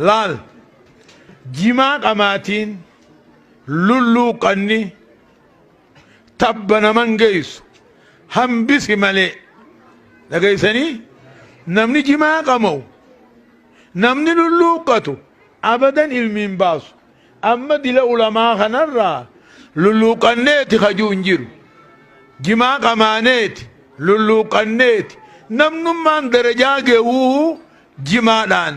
laal jimaa qamaatiin lulluuqanni tabba naman geessu hambisi malee dhageessanii namni jimaa qama'u namni lulluuqqatu abadan ilmi hin baasu amma dila ulamaa kanarraa lulluuqanneeti kajuu hin jiru jimaa qamaaneeti lulluuqanneeti namnummaan darajaa ga'uu jimaadhaan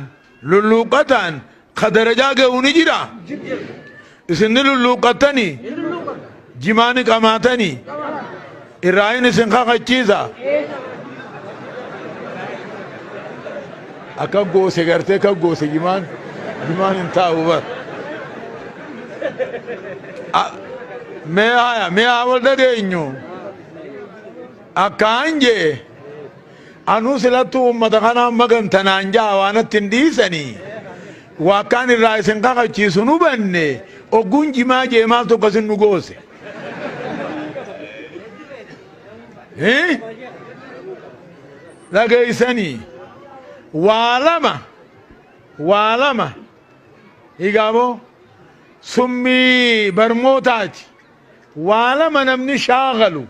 lulluuqqataan ka darajaa gahu ni jira isin ni lulluuqqattanii jimaa ni qamaatanii irraahin isin kakachiisa akka goose gartee akka goose jimaan jimaan hin taa'u bar A- mee haya mee haa wal dhageenyu akkaan jee Anuu silattuu ummata kanaan maganta naan ja'a waa natti hin dhiisanii waa akkaan irraa isin kakachiisu hin hubanne ogguun jimaa jee maaltu akkasin nu goose Hii? dhageeysanii waa lama waa lama higaaboo summii barmootaati waa lama namni shaagalu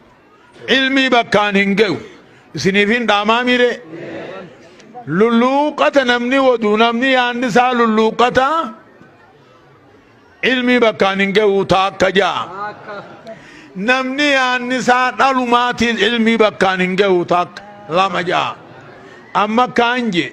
Ilmii bakkaan hin gayu. Isiniif hin dhaamaamii ree? Lulluuqqata namni wadu namni yaanni isaa lulluuqqata ilmii bakkaan hin gayu taakka ja'a. Namni yaanni isaa dhalumaatiin ilmii bakkaan hin gayu taakka lama ja'a. Amma kaan jee.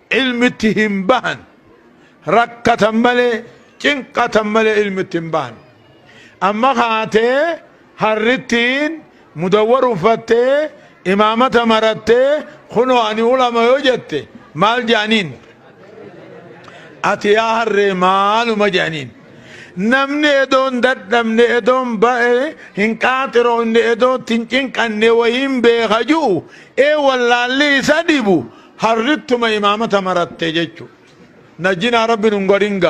Ilmi itti hin bahan. Rakkatan malee, cinqatan malee ilmi itti hin bahan. Amma kaatee harrittiin mudawwar uffattee, imaamata marattee, kunoo ani ulama yoo jette maal jedhaniin? Ati yaa harree maaluma jedhaniin? Namni edoo hin dadhabne, edoo hin ba'e, hin qaaxiroofne, edoo itti hin cinqanne wayiin beeka ju'u, ee wallaalli isa dhibu, Harrittuma imaamata maratte jechu. Najjinaa rabbi nun godhin gaa.